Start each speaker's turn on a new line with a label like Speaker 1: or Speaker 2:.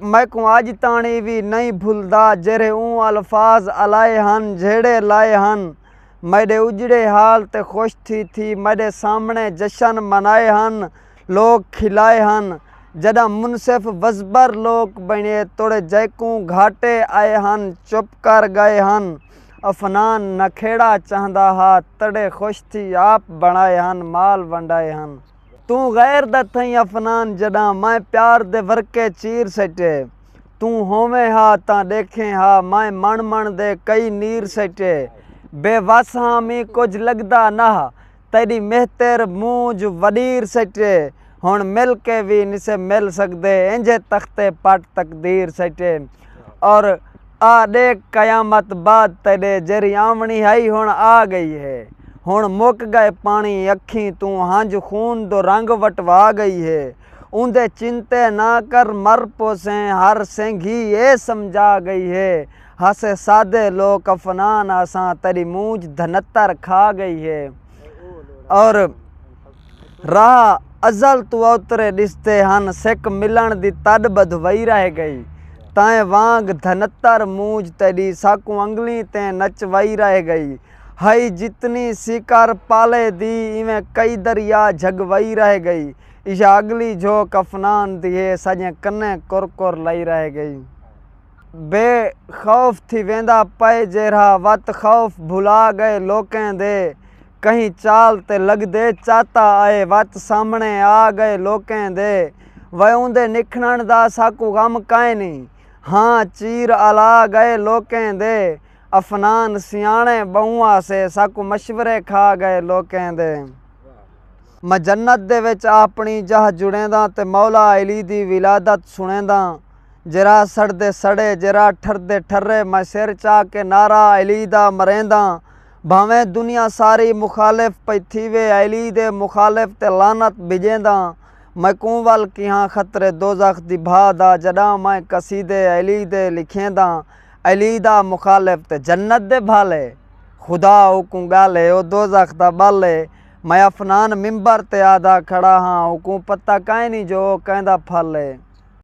Speaker 1: میکوں اج تاݨی وی نئیں بھلدا جیرھے اوں الفاظ الائے ہن جھیڑے لائے ہن۔ میݙے اجڑے حال تے خوش تھی تھی میݙے سامݨے جشن منائے ہن لوک کھلائے ہن۔ جݙاں منصف وزبر لوک بݨیے توڑے جیکوں گھاٹے آئے ہن چپ کر ڳئے ہن۔ افنان نکھیڑا چاہندا ہا تݙے خوش تھی آپ بݨائے ہن مال ونڈائے ہن۔ توں غیر دا تھئیں افنان جݙاں مائیں پیار دے ورقے چیر سٹے توں ہوویں ہا تاں ݙیکھیں ہا مائیں مݨ مݨ دے کئی نیر سٹے بے وس ہاں مینھ کجھ لڳدا نہ تیݙی مہتر مونجھ وݙیر سٹے ہݨ مل کے وی نسے مل سڳدے اینجھے تختے پٹ تقدیر سٹے اور آ ݙیکھ قیامت بعد تیݙے جیرھی آوݨی ہئی ہݨ آ ڳئی ہے ہݨ مک ڳئے پاݨی اکھیں توں ہنج خون دو رنگ وٹوا ڳئی ہے اوندے چنتے نہ کر مر پوسیں ہر سینگھی اے سمجھا ڳئی ہے ہاسے سادے لوک افنان آساں تیݙی مونجھ دھنتر کھا ڳئی ہے اور راہ ازل توں اوترے ݙسدے ہن سک ملݨ دی تݙ ٻدھ وئی رہ ڳئی تیں وانگ دھنتر مونجھ تیݙی ساکوں انگلیں تیں نچ وئی رہ ڳئی ہئی جتنی سیکر پالے دی ایویں کئی دریا جھڳ وئی رہ ڳئی ایشا اڳلی جھوک افنان دی ہے ساڄیں کنیں کر کر لئی رہ ڳئی بے خوف تھی ویندا پئے جیرھا وت خوف بھلا ڳئے لوکیں دے کہیں چال تے لگدے چاتا آئے وت سامنڑے آ گئے لوکیں دے وے اوندے نکھنڑ دا ساکوں غم کائنی ہاں چیر الا گئے لوکیں دے افنان سیانڑے بہوں آسے ساکوں مشورے کھا گئے لوکیں دے۔ میں جنت دے وچ آپنڑی جاہ جڑینداں تے مولا علی دی ولادت سنڑینداں جیرھا سڑدے سڑے جیرھا ٹھردے ٹھرے میں سر چا کے نعرہ علی دا مرینداں بھانویں دنیا ساری مخالف پئی تھیوے علی دے مخالف تے لعنت بھجینداں میکوں ول کیہاں خطرے دوزخ دی بھا دا جڈاں میں قصیدے علی دے لکھینداں علی دا مخالف تے جنت دے بھل اے خدا اوکوں گل اے او دوزخ دا بل اے میں عفنان ممبر تے آہدا کھڑا ہاں اوکوں پتہ کائنی جو او کیندا پھل اے۔